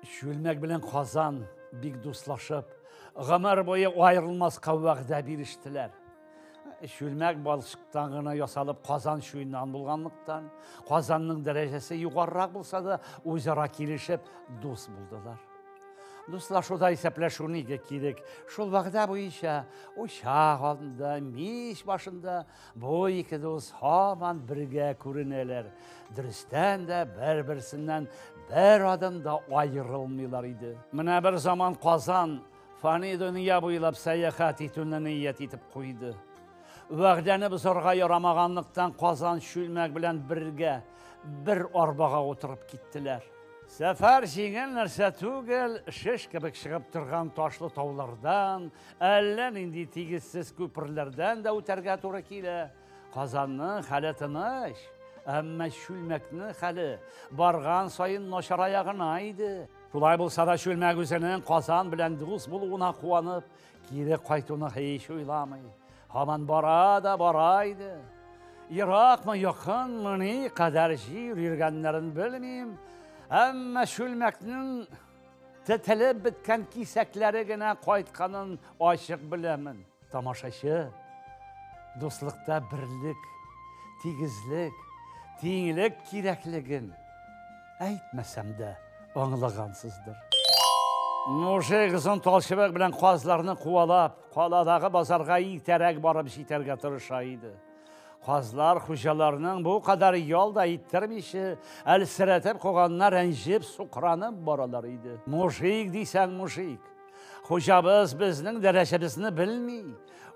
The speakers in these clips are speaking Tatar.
Чүлмәк белән Казан бик дуслашып, гомер буе аерылмаска вәгъдә бирештеләр. Чүлмәк балчыктан гына ясалып Казан чуеннан булганлыктан, Казанның дәрәҗәсе югарырак булса да, үзара килешеп дус булдылар. Дуслашуда исәпләшү нигә кирәк? Шул вәгъдә буенча учак алдында, мич башында Бу ике дус һаман бергә күренәләр. Дөрестән дә бер-берсеннән бер адым да аерылмыйлар иде. Менә бер заман Казан фани дөнья буйлап сәяхәт итүне ният итеп куйды. Вәгъдәне бозарга ярамаганлыктан Казан чүлмәк белән бергә бер арбага утырып киттеләр. Сәфәр җиңел нәрсә түгел, шеш кебек чыгып торган ташлы таулардан, Әллә нинди тигезсез күперләрдән дә үтәргә туры килә. Казанның хәле тыныч, әмма чүлмәкнең хәле барган саен начарая гына иде. Шулай булса да чүлмәк үзенең Казан белән дус булуына куанып, кире кайтуны һич уйламый. Һаман бара да бара иде. Еракмы, якынмы, ни кадәр җир йөргәннәрен белмим, әмма чүлмәкнең Тетелеп беткән кисәкләре генә кайтканын ачык беләмен. Тамашачы, дуслыкта берлек, тигезлек, тиңлек кирәклеген әйтмәсәм дә аңлагансыздыр. Мужик озын талчыбык белән казларны куалап, каладагы базарга иртәрәк барып җитәргә тырыша иде. Казлар хуҗаларның бу кадәр ял да иттермичә, әлсерәтеп куганына рәнҗеп, сукранып баралар иде. Мужик дисәң мужик. Хуҗабыз безнең дәрәҗәбезне белми.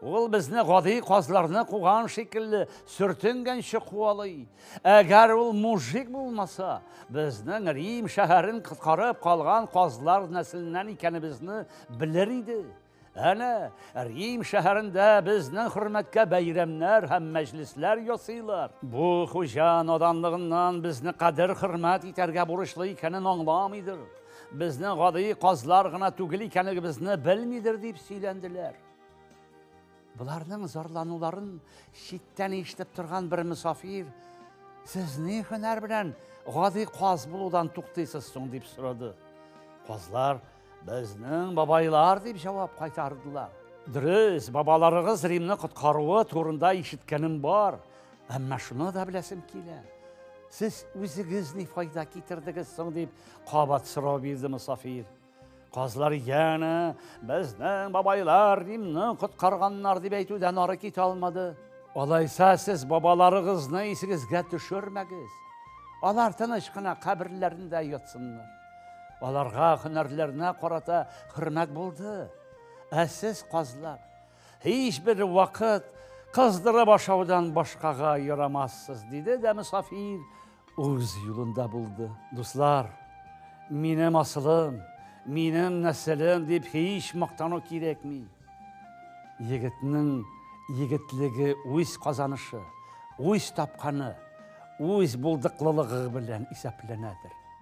Ул безне гади казларны куган шикелле сөртенгәнче куалый. Әгәр ул мужик булмаса, безнең Рим шәһәрен коткарып калган казлар нәселеннән икәнебезне белер иде. Әнә, Рим шәһәрендә безнең хөрмәткә бәйрәмнәр һәм мәҗлесләр ясыйлар. Бу хуҗа наданлыгыннан безне кадер хөрмәт итәргә бурычлы икәнен аңламыйдыр. Безнең гади казлар гына түгел икәнегебезне белмидер дип сөйләнделәр. Боларның зарлануларын читтән ишетеп торган бер мөсафир, "Сез ни хөнәр белән гади каз булудан туктыйсыз соң?" дип сорады. Казлар Безнең бабайлар дип җавап кайтардылар. Дөрес, бабаларыгыз Римны коткаруы турында ишеткәнем бар, әмма шуны да беләсем килә. Сез үзегез ни файда китердегез соң дип кабат сорау бирде Мусафир. Казлар янә безнең бабайлар Римны коткарганнар дип әйтүдән ары китә алмады. Алайса сез бабаларыгызны исегезгә төшермәгез. Алар тыныч кына каберләрендә ятсыннар. Аларга һөнәрләренә карата хөрмәт булды. Ә сез, казлар, һичбер вакыт кыздырып ашаудан башкага ярамассыз, диде дә мөсафир үз юлында булды. Дуслар, минем асылым, минем нәселем дип һич мактану кирәкми. Егетнең егетлеге үз казанышы, үз тапканы, үз булдыклылыгы белән исәпләнәдер.